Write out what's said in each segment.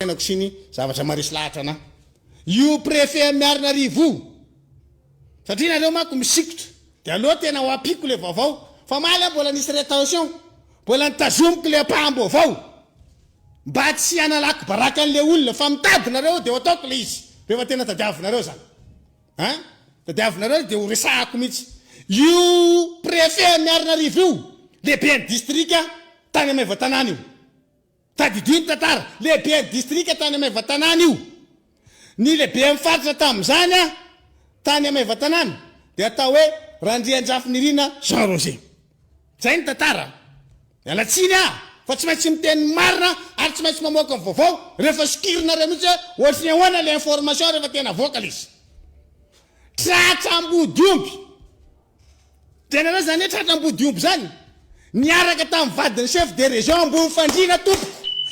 fiainako sy ny zavatra maharesy lahatra anah. Io prefet am Miarinarivo io. Satria nareo manko misikotra. De aleo tena ho ampiko le vaovao. Fa omaly aho mbola nisy retention. Mbola nitazomiko le ampaham-baovao. Mba tsy hanalako baraka an'le olona fa mitady nareo de ho ataoko le izy. Rehefa tena tadiavinareo zany. Ha? Tadiavinareo de ho resahako mihitsy. Io prefet am Miarinarivo io. Lehiben'ny distrika tany am Maevatanàna io. Tadidio ny tantara, lehiben'ny distrika tany Maevatanàna io. Ny lehiben'ny faritra tamin'izany tany Maevatanàna dia atao hoe Randriandrafinirina Jean Roger. Izay ny tantara. Miala tsiny aho fa tsy maintsy miteny ny marina ary tsy maintsy mamoaka ny vaovao rehefa sokirinareo mihitsy hoe ohatry ny ahoana ilay information rehefa tena vocal izy. Tratra ambodiomby. Drenana zany hoe tratra ambodiomby zany? Niaraka tamin'ny vadin'ny chef de région Ambovofandriana tompoko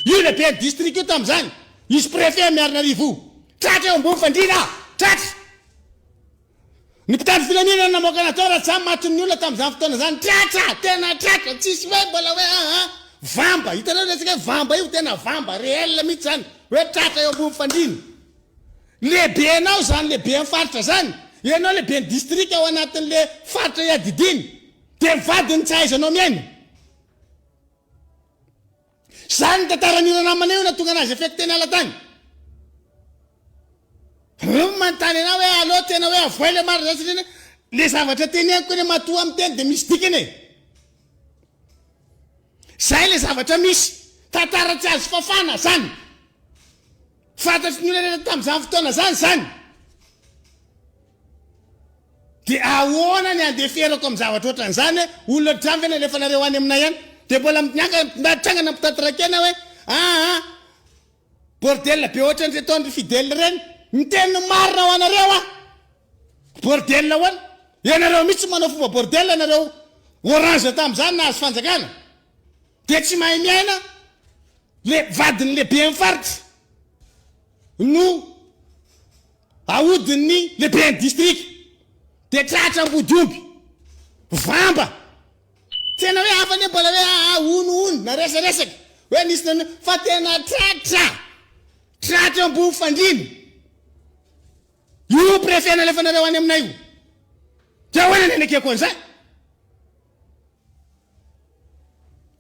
io lehiben'ny district io tamin'izany, izy préfet Miarinarivo io. Tratra eo Ambovofandriana, tratra! Ny mpitandro filaminana namoaka an'azy tao Ratsam matin'ny olona tamin'izany fotoana zany, tratra! Tena tratra, tsisy hoe mbola hoe ah ah. Vamba, hitanao resaka hoe vamba io, tena vamba, réel mihitsy zany, hoe tratra eo Ambovofandriana. Lehibenao zany lehiben'ny faritra zany, ianao lehiben'ny distrika ao anatin'le faritra iadidiany de ny vadiny tsy ahaizanao miaina. Zany ny tantaran'i Ranamana io nahatonga anazy effet teny ala tany. Reo no manontany anao hoe allo tena hoe avoay le marina zany satria le zavatra teneniko anie matoa miteny de misy dikany e. Zay le zavatra misy, tantara tsy azo fafana zany. Fantatry ny olona rehetra tamin'izany fotoana izany izany. Dia ahoana ny andeferako amin'ny zavatra ohatran'izany hoe olona ohatran'izany ve no alefanareo any aminay any? Dia mbola miangana mpitondra trangana mpitatitra kena hoe aa bordel be ohatran'ireto an-dry Fidèle ireny. Miteny ny marina ho anareo aho. Bordel ahoana? Ianareo mihitsy no manao fomba bordel ianareo orange tamin'izany nahazo fanjakana. Dia tsy mahay miaina le vadin'ny lehiben'ny faritra no ahodin'ny lehiben'ny distrika. Dia tratra ambodiomby. Vamba. Tena hoe hafa anie mbola hoe aa hono hono na resaresaka hoe nisy nanao fa tena tratra. Tratra ambony fandriana. Io préfet nalefanareo any aminay io. Dia ahoana ny anekeko an'izay?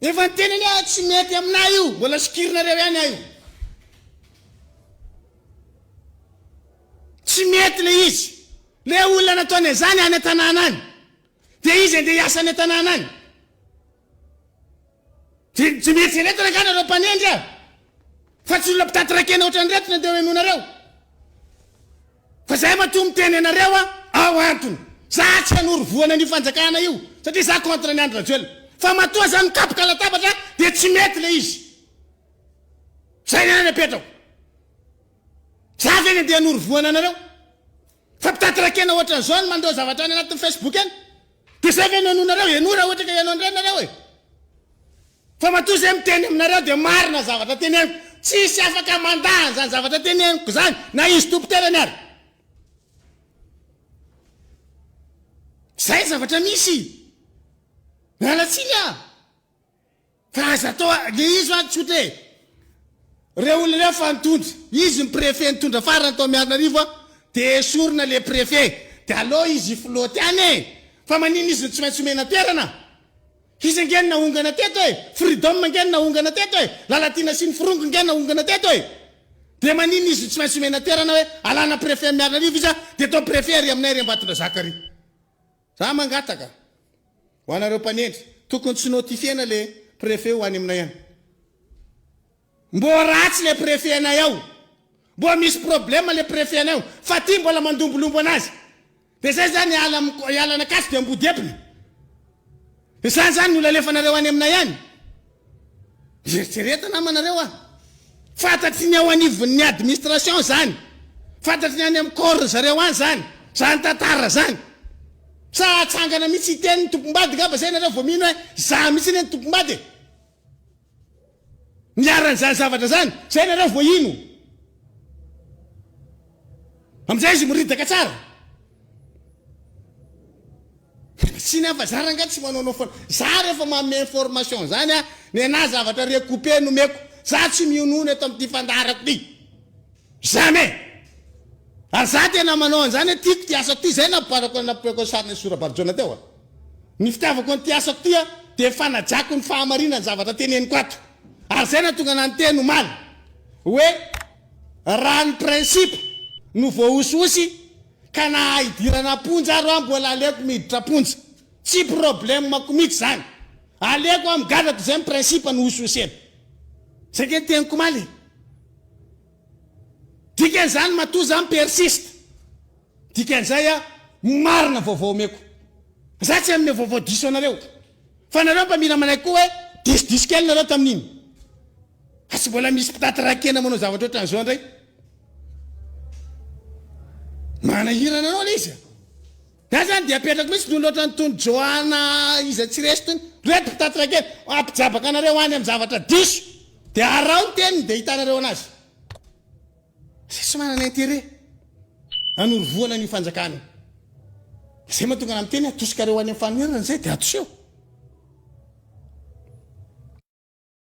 Efa niteny anie aho tsy mety aminah io, mbola sikirinareo ihany aho io. Tsy mety le izy. Le olona nataony anzany any an-tanàna any. De izy andeha hiasa any an-tanàna any. De tsy mety ireto r'angaha nareo mpanendry a! Fa tsy olona mpitatitra kena ohatran'ireto no andeha hohenoinareo. Fa zay matoa miteny anareo a ao antony za tsy hanoro vohana an'io fanjakana io satria za contre an'i Andry Rajoelina fa matoa za mikapoka latabatra dia tsy mety le izy zay ny anany apetra ao za ve ny andeha hanoro vohana anareo fa mpitatirakena ohatran'izao ny mandeha zavatra any anatin'ny Facebook any Dia izay ve no henoinareo? Henoy raha ohatra ka heno an'ireny ianareo e! Fa matoa izay miteny aminareo dia marina ny zavatra teneniko, tsisy afaka mandà an'izany zavatra teneniko izany na izy tompon-tenany ary. Izay ny zavatra misy! Miala tsiny aho. Fa aza atao a, le izy ho'a tsotra e! Reo olona reo fa nitondra, izy ny préfet nitondra farany tao Miarinarivo a, de esorina le préfet, de aleo izy hi-flotte any e! Fa maninona izy no tsy maintsy omena toerana? Izy ange no nahongana teto e! Freedom ange no nahongana teto e! Lalatiana sy ny Forongo ange nahongana teto e! De maninona izy no tsy maintsy omena toerana hoe alana préfet an'i Miarinarivo izy a, de atao préfet ary aminay ary Ambatondrazaka ary. Za mangataka ho anareo mpanendry tokony tsy notifiena le prefet ho any aminay any. Mbô ratsy le prefet anay ao. Mbô misy problème le prefet anay ao. Fa ty mbola mandombolombo anazy. De zay zany hiala am hiala anakasy de ambodiepina. Zany zany no lalefanareo any aminay any. Eritrereto namanareo a! Fantatry ny ao anivon'ny administration zany, fantatry ny any amin'ny corps ry zareo any zany, zany tantara zany. Sa hatsangana mihitsy hiteny ny tompom-bady ngamba zay nareo vao mino hoe za mihitsy anie ny tompom-bady e! Niharan'izany zavatra zany, zay nareo vao hino. Amizay izy miridaka tsara. Tsy ny hafa zara nga tsy manaonao foana za refa manome information zany a nenah zavatra recouper no meko za tsy mionono eto amty fandaharako ty jamais ary za tena manao anzany hoe tiako ty asako ty zay nampibarako an nampiako an sarinay sy Rabarijaona teo a ny fitiavako an ty asako ty a de fanajako ny fahamarinan zavatra teneniko ato ary zay natonga anah niteny omaly hoe Raha ny principe no voahosihosy ka naha idirana am-ponja ary hoa mbola aleoko miditra am-ponja. Tsy problème-ko mihitsy izany. Aleoko hoa migadra toy izay ny principe no hosihosena. Izay ange ny teniko omaly e. Dikan'izany matoa za mi-persiste. Dikan'izay a, marina vaovao omeko. Za tsy hanome vaovao diso anareo. Fa nareo mba mila manaiky koa hoe diso diso kely nareo tamin'iny. Fa tsy mbola misy mpitaty rakena manao zavatra ohatran'izao indray? Manahirana anao ilay izy a! Za zany dia apetrako mihitsy ny olona ohatran'ny tony Joana iza tsy resy tony. Reto mpitaty rakena, hampijabaka anareo any amin'ny zavatra diso. Dia araho ny teniny dia hitanareo anazy. Izay tsy manana intérêt hanorovoana an'io fanjakana io. Izay mahatonga anah miteny atosikareo any amin'ny fanonerana izay dia atoseho.